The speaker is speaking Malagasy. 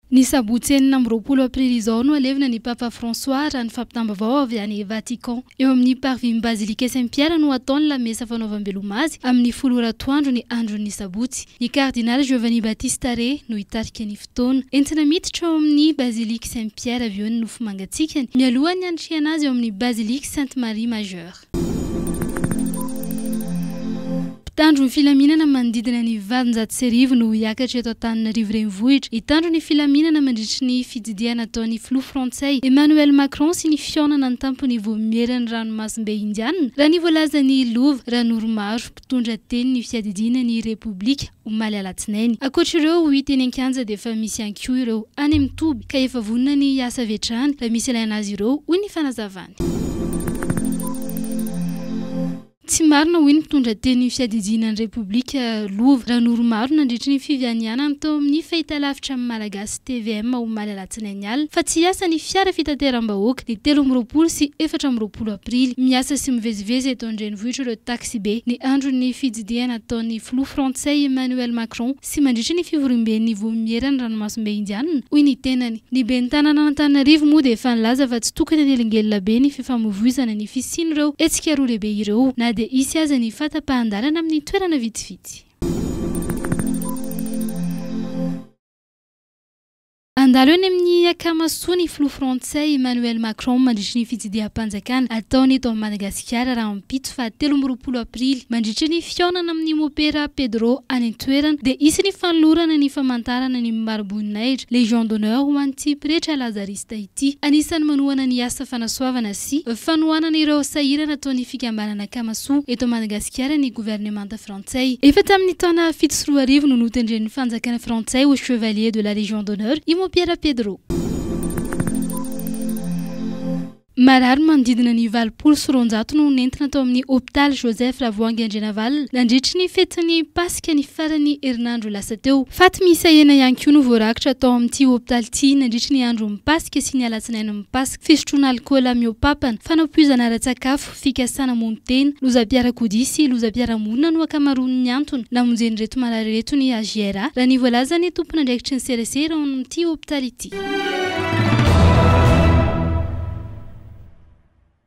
Ny sabotsy enina amby roapolo aprily izao no halevina ny Papa François, raha ny fampitam-baovao avy any Vatican. Eo amin'ny Parvis-n'ny Bazilika Saint Pierre no hatao ny lamesa fanaovam-beloma azy, amin'ny folo ora atoandro ny andron'ny sabotsy. Ny Kardinaly Giovanni Battista Re no hitarika ny fotoana. Entina miditra ao amin'ny Baziliky Saint Pierre avy eo ny nofo mangatsiakany, mialohan'ny handrisihana azy ao amin'ny Baziliky Sainte Marie Majeure. Mpitandro ny filaminana manodidina ny valonjato sy arivo no hiakatra eto Antananarivo Renivohitra hitandro ny filaminana mandritry ny fitsidihana ataon'ny filoha frantsay Emmanuel Macron sy ny fihaonana an-tampony vao miera ny ranomasimbe Indiana, raha ny voalazan'ny lova. Raha Noromaro. Nitondra teny ny fiadidiana ny Repoblika, omaly alatsinainy. Ankoatra ireo ho hita eny an-kianja dia efa misy ihany koa ireo any amin'ny toby ka efa vonona ny hiasa avy hatrany raha misy ilaina azy ireo, hoy ny fanazavany. Tsy marina, hoy ny mpitondra teny ny fiadidiana ny Repoblika, Lova Ranoromaru, nandritry ny fivianianany tao amin'ny fahitalavitra Malagasy. tvm omaly alatsinainy alina fa tsy hiasa ny fiara fitateram-bahoaka ny telo amby roapolo sy efatra amby roapolo aprily. Miasa sy mivezivezy eto an-drenivohitra ireo taksibe ny andron'ny fitsidihana ataon'ny filoha frantsay Emmanuel Macron sy mandritra ny fivoriamben'ny Vomieran'ny ranomasimbe Indiana, hoy ny tenany. Ny ben'ny tanànan'Antananarivo moa dia efa nilaza fa tsy tokony hanelingelina be ny fifamoivoizana ny fisian'ireo hetsika roa lehibe ireo na dia hisy aza ny fahatapahan-dalana amin'ny toerana vitsivitsy. Handalo eny amin'ny Akamasoa ny filoha frantsay Emmanuel Macron mandritry ny fitsidiham-panjakana ataony eto Madagasikara rahampitso faha telo amby roapolo aprily. Mandritry ny fihaonana amin'ny Mopera Pedro any an-toerana dia hisy ny fanolorana ny famantarana ny mariboninahitra, Légion d'honneur, ho an'ity pretra lazarista ity. Anisan'ny manohana ny asa fanasoavana sy fanohanana ireo sahirana ataon'ny fikambanana Akamasoa eto Madagasikara ny governemanta frantsay. Frantsay. Efa tamin'ny taona fito sy roa arivo no notendren'ny fanjakana frantsay ho Chevalier de la Légion d'honneur i Mopiera Pedro. Marary manodidina ny valopolo sy roanjato no nentina tao amin'ny hopitaly Joseph Ravoahangy Andrianavalona nandritry ny fetin'ny Paska ny faran'ny herinandro lasa teo. Faty miisa enina ihany koa no voarakitra tao amin'ity hopitaly ity nandritry ny andron'ny Paska sy ny alatsinain'ny Paska, fisotroana alikaola mihoa-papana, fanapoizana ara-tsakafo, fikasana hamono tena, lozam-piarakodia sy lozam-piarahamonina no ankamaroan'ny antony namonjen'ireto marary ireto ny HJRA, raha ny voalazan'ny tompon'andraikitry ny serasera ao amin'ity hopitaly ity.